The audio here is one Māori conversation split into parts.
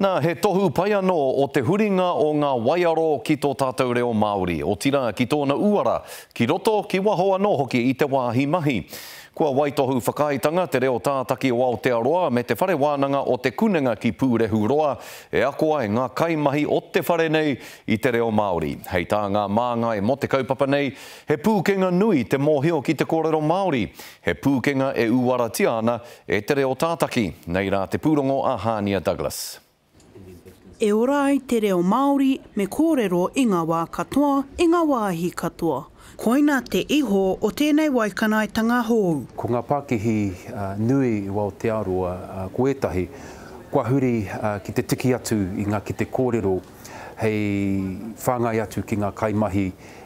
Nā, he tohu pai anō o te huringa o ngā waiaro ki tō tātou reo Māori, otirā ki tōna uara, ki roto, ki waho anō hoki i te wāhi mahi. Kua waitohu whakaaetanga Te Reo Tātaki o Aotearoa me Te Whare Wānanga o Te Kunenga ki Pūrehuroa e ako ai ngā kaimahi o te whare nei i te reo Māori. Hei tā ngā māngai mō te kaupapa nei, he pūkenga nui te mōhio ki te kōrero Māori, he pūkenga e uaratia ana E te reo tātaki, nei rā te pūrongo a Hānia Douglas. E ora ai te reo Māori, me kōrero i ngā wā katoa, i ngā wāhi katoa. Koina te iho o tēnei waikanaetanga hou. Ko ngā pākihi nui i Aotearoa, ko ētahi, kua huri ki te tiki atu i ngā kete kōrero hei whāngai atu ki ngā kaimahi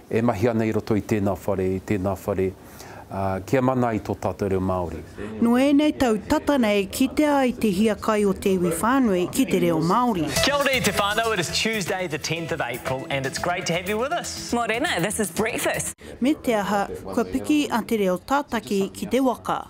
e mahi ana i roto i tēnā whare, i tēnā whare. Kia mana i to tatou reo Maori. No enei tau tata nei kitea ai te hiakai o te iwi whanui ki te reo Maori. Kia ora i te whanau, it is Tuesday the tenth of April and it's great to have you with us. Morena, this is breakfast. Me te aha, kua piki a Te Reo Tātaki ki te waka.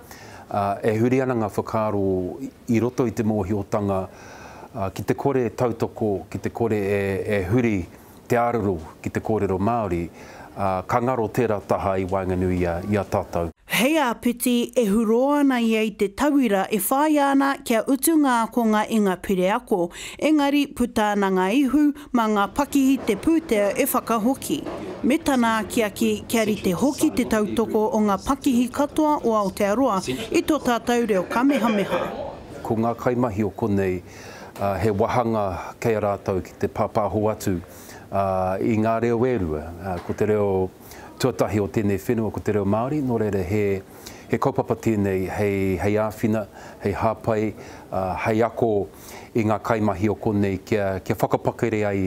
ā, e huri ana ngā whakaaro i roto i te mōhiotanga ki te kore e tautoko, ki te kore e huri te āruru ki te kōrero Māori, ā, ka ngaro tērā taha i waenganui i a tātou. Hei āpiti, e hurō ana ia i te tauira e whāia ana kia utu ngā ākonga i ngā pire ako, engari puta ana ngā ihu, Mā ngā pakihi te pūtea e whakahoki. Me tana akiaki kia rite hoki te tautoko o ngā pakihi katoa o Aotearoa i tō tātou reo kamehameha. Ko ngā kaimahi o konei, he wāhanga kei a rātou ki te pāpāho atu i ngā reo e rua. Ko te reo tuatahi o tēnei whenua ko te reo Māori, nō reira he kaupapa tēnei hei āwhina, hei hāpai, hei ako. i ngā kaimahi o konei kia, kia whakapakere ai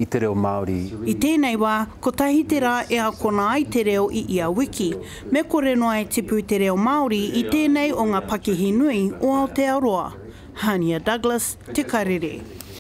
i te reo Māori. I tēnei wā, kotahi te rā e akona ai te reo i ia wiki. Me kore noa e tipu te reo Māori i tēnei o ngā pakihi nui o Aotearoa. Hania Douglas, Te Karere.